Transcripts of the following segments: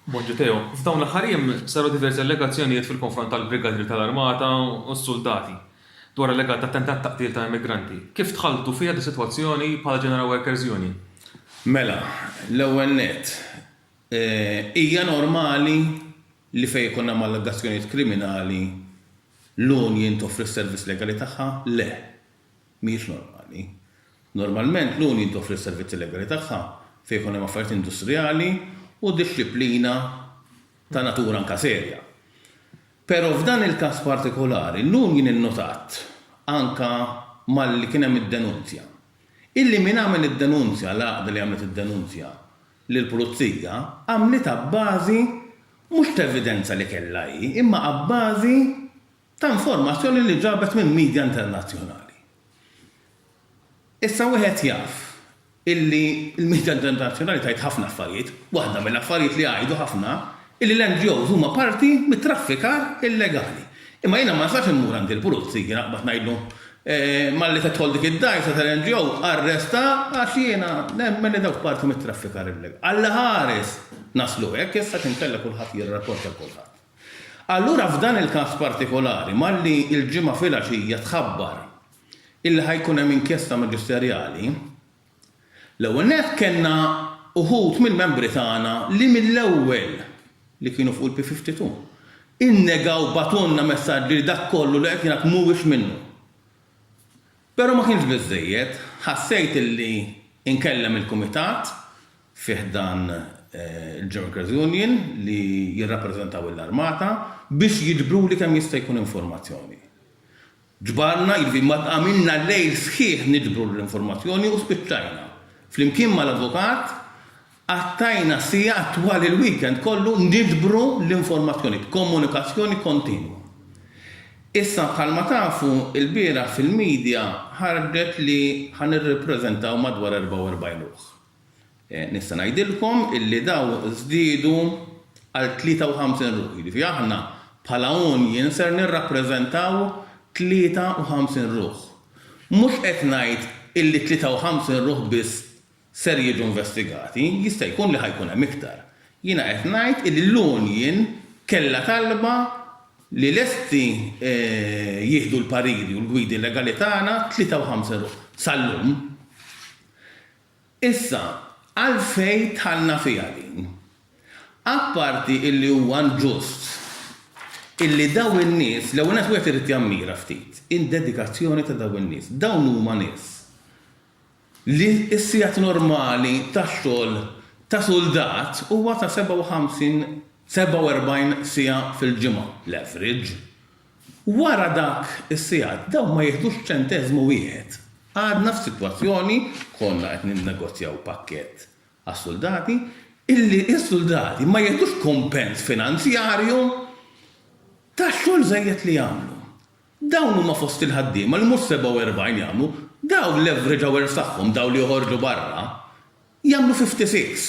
Bonġiteo, f'dawn l-aħħar jiem saru diversi allegazzjonijiet fil-konfront tal-brigadri tal-armata u s-suldati dwar allegat attentat ta' qtil ta' immigranti. Kif dħaltu fiha dis-sitwazzjoni bħala General Workers Union? Mela, l-ewwel nett, hija normali li fejn ikun hemm allegazzjonijiet kriminali l-union toffri s-servizz legali tagħha? Le. mhijiex normali. Normalment, l-union toffri s-servizzi legali tagħha fejn ikun hemm affarijiet industrijali u dixxiplina ta' natura anke serja. Però f'dan il-każ partikolari, l-union innutat, anke malli kien hemm id-denunzja, illi min għamel id-denunzja, l-għaqda li għamlet id-denunzja lill-pulizija, għamlitha abbażi mhux t'evidenza li kellha hi, imma abbażi ta' informazzjoni li ġabet minn midja internazzjonali. Issa wieħed jaf illi l-midja internazzjonali tgħid ħafna affarijiet, waħda mill-affarijiet li jgħidu ħafna illi l-NGOs huma parti mit-traffikar illegali. Imma jiena ma nistax immur għand il-pulizija naqbad ngħidlu malli tidħol dik id-dgħajsa tal-NGO arresta għax jiena nemmen li dawk parti mit-traffikar illegali. Allaħares naslu hekk issa x'inkella kulħadd jirrapporta lil kulħadd. Allura f'dan il-każ partikolari, malli l-Ġimgħa filgħaxija tħabbar illi ħa jkun hemm inkjesta maġisterjali, l-ewwel nett kellna uħud mill-membri tagħna li mill-ewwel, li kienu fuq il-P52, innegaw bagħtulna messaġġi li dak kollu li qed jingħad mhuwiex minnu. Però ma kienx biżżejjed. Ħassejt li nkellem il-kumitat fi ħdan il-Junkers Union li jirrappreżentaw l-Armata biex jiġbruli kemm jista' jkun informazzjoni. Ġbarna, jiġifieri ma għamilna lejl sħiħ niġbru l-informazzjoni u spiċċajna, flimkien mal-avukat, Qattajna sigħat twal il-weekend kollu niġbru l-informazzjoni b'komunikazzjoni kontinwa. Issa bħalma tafu, ilbieraħ fil-media ħarġet li ħa nirrappreżentaw madwar 44 ruħ. Nista' ngħidilkom illi dawn żdiedu għal 53 ruħ, jiġifieri aħna bħala union ser nirrappreżentaw 53 ruħ. Mhux qed ngħid illi 53 ruħ biss ser jiġu investigati, jista' jkun li ħa jkun hemm iktar. Jiena qed ngħid illi l-union kellha talba li lesti jieħdu l-pariri u l-gwidi legali tagħna 53 ruħ sal-lum. Issa, għalfejn dħalna fiha din? Apparti illi huwa inġust illi dawn in-nies, l-ewwel nett wieħed irid jammira ftit id-dedikazzjoni ta' dawn in-nies. Dawn huma nies li s-sigħat normali ta' xogħol ta' suldat huwa ta' 57, 47 siegħa fil-ġimgħa, l-average. Wara dak is-sigħat dawn ma jiħdux ċenteżmu wieħed. Għadna f'sitwazzjoni, konna qed ninnegozjaw pakkett għas-suldati, illi s-suldati ma jiħdux kumpens finanzjarju tax-xogħol żejjed li jagħmlu. Dawn huma fost il-ħaddiema li mhux 47 jagħmlu, dawn l-average hours tagħhom, dawn li joħorġu barra, jagħmlu 56.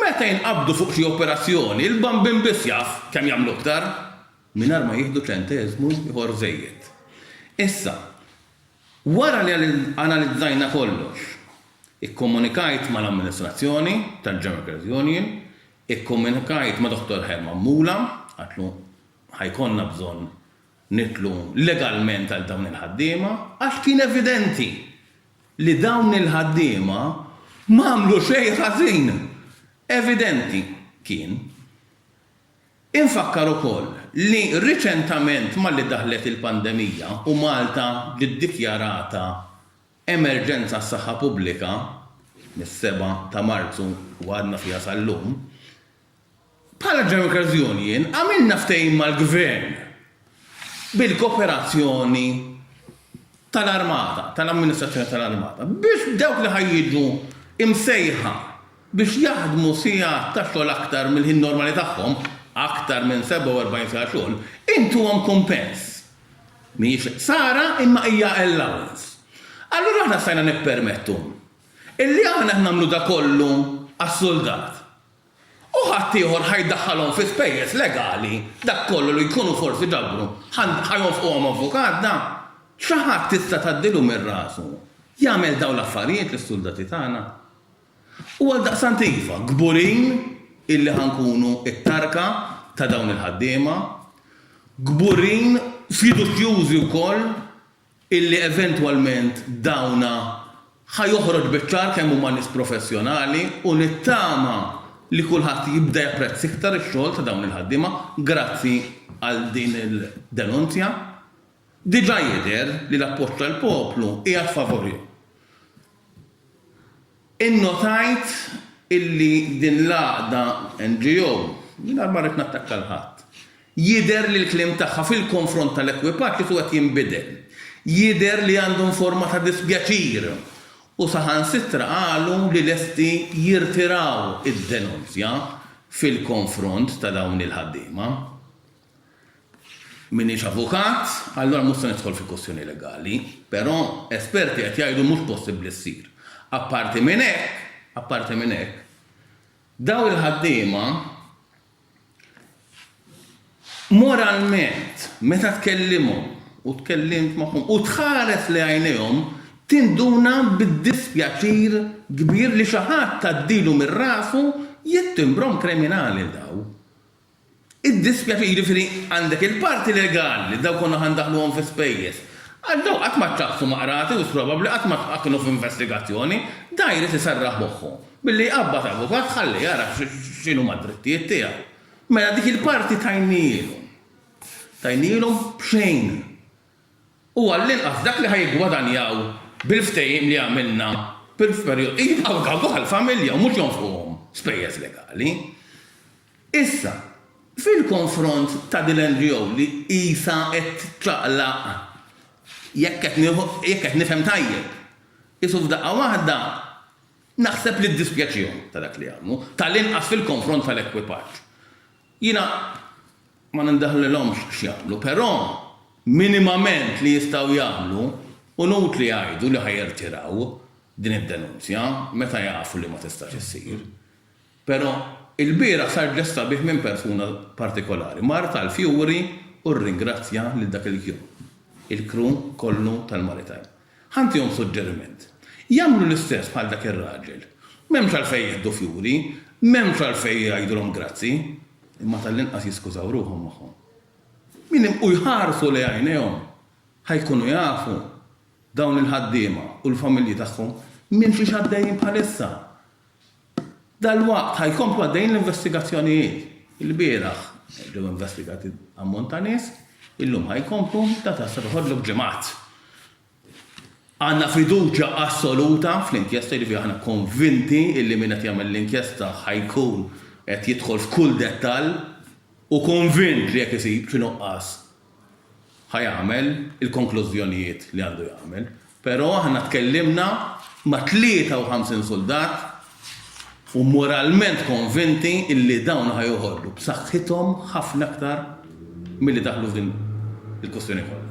Meta jinqabdu fuq xi operazzjoni, il-bambin biss jaf kemm jagħmlu iktar, mingħajr ma jieħdu ċenteżmu ieħor żejjed. Issa, wara li analizzajna kollox, ikkomunikajt mal-amministrazzjoni tal-General Workers' Union, ikkomunikajt ma' Dottor Herman Mula, għidtlu, ħa jkollna bżonn nidħlu legalment għal dawn il-ħaddiema għax kien evidenti li dawn il-ħaddiema ma għamlu xejn ħażin. Evidenti kien. Infakkar ukoll li riċentament malli daħlet il-pandemija u Malta ġiet dikjarata emerġenza għas-saħħa pubblika mis-7 ta' Marzu u għadna fiha sal-lum, Bħala Drunkards Union għamilna ftehim mal-Gvern bil-koperazzjoni tal-Armata, tal-Amministrazzjoni tal-Armata, biex dawk li ħa jiġu msejħa biex jaħdmu sigħat ta' xogħol aktar mill-ħin normali tagħhom, aktar minn 47 siegħa xogħol, intuhom kumpens. Mhijiex ħsara imma hija allowance. Allura aħna stajna nippermettu illi aħna nagħmlu dakollu għas-suldat. U ħaddieħor ħa jdaħħalhom fi spejjeż legali, dak kollu li jkunu forsi ġabru, ħa jonfquhom avukat, da! Xi ħadd tista' tgħaddilu minn rasu jagħmel dawn l-affarijiet lis-suldati tagħna? U għaldaqstant iva, kburin illi ħa nkunu t-tarka ta' dawn il-ħaddiema, kburin, fiduċjużi wkoll, illi eventwalment dawna ħa joħroġ biċ-ċar kemm huma nies professjonali u nittama li kulħadd jibda japprezz iktar ix-xogħol ta' dawn il-ħaddiema grazzi għal din il-denunzja. Diġà jidher li l-appoġġ tal-poplu qiegħed favorihom. Innotajt illi din l-għaqda, NGO, mingħajr ma rrid nattakka 'l ħadd, jidher li l-kliem tagħha fil-konfront tal-ekwipaġġ isu qed jinbidel. Jidher li għandhom forma ta' dispjaċir u saħansitra qalu li lesti jirtiraw id-denunzja fil-konfront ta' dawn il-ħaddiema. M'iniex avukat, allura mhux se nidħol fi kwistjoni legali, però esperti qed jgħidu mhux possibbli ssir. Apparti minn hekk, apparti minn hekk, dawn il-ħaddiema moralment meta tkellimhom u tkellimt magħhom u tħares lejn għajnejhom tinduna bid-dispjaċir kbir li xi ħadd għaddilu minn rasu jittimbrhom kriminali dawn. Iddispjaċik, jiġifieri għandek il-parti legali li dawn konna ħa ndaħħluhom fi spejjeż. Għax dawn qatt ma tlaqqtu ma' qrati u probabbli qatt ma tqgħa kienu f'investigazzjoni. Dan jrid iserraħ moħħu billi jqabbad avukat ħalli jara x'inhuma d-drittijiet tiegħu. Mela dik il-parti tajnielhom. Tajnielhom b'xejn. u għall-inqas dak li ħa jiggwadanjaw bil-ftehim li għamilna fil-perjodu, jibqgħu dawk għall-familja u mhux jonfquhom spejjeż legali. Issa, fil-konfront ta' din l-NGO li qisha qed ċaqlaq, jekk qed nieħu, jekk qed nifhem tajjeb, qisu f'daqqa waħda naħseb li ddispjaċihom ta' dak li għamlu, tal-inqas fil-konfront tal-ekwipaġġ. Jiena ma nindaħlilhomx x'jagħmlu, però minimament li jistgħu jagħmlu hu inutli jgħidu li ħa jirtiraw din id-denunzja meta jafu li ma tistax issir. Però ilbieraħ sar ġest sabiħ minn persuna partikolari, mara tal-fjuri u rringrazzja lil dak il-kju, il-crew kollu tal-Maritime. Ħa ntihom suġġeriment. Jagħmlu l-istess bħal dak ir-raġel. M'hemmx għalfejn jieħdu fjuri, m'hemmx għalfejn jgħidulhom grazzi, imma tal-inqas jiskużaw ruħhom magħhom. Minn imqu jħarsu lejn għajnejhom, ħa jkunu jafu dawn il-ħaddiema u l-familji tagħhom minn xiex għaddejjin bħalissa. Dalwaqt ħa jkomplu għaddejjin l-investigazzjonijiet. Ilbieraħ ġew investigati ammont ta' nies, illum ħa jkomplu, data se toħodlu b'ġimgħat. Għandna fiduċja assoluta fl-inkjesta, jiġifieri aħna konvinti illi min qed jagħmel l-inkjesta ħa jkun qed jidħol f'kull dettall u konvint li jekk isib xi nuqqas ħa jagħmel il-konklużjonijiet li għandu jagħmel, però aħna tkellimna ma' 53 suldat u moralment konvinti illi dawn ħa joħorġu b'saħħithom ħafna aktar milli daħlu f'din il-kwistjoni kollha.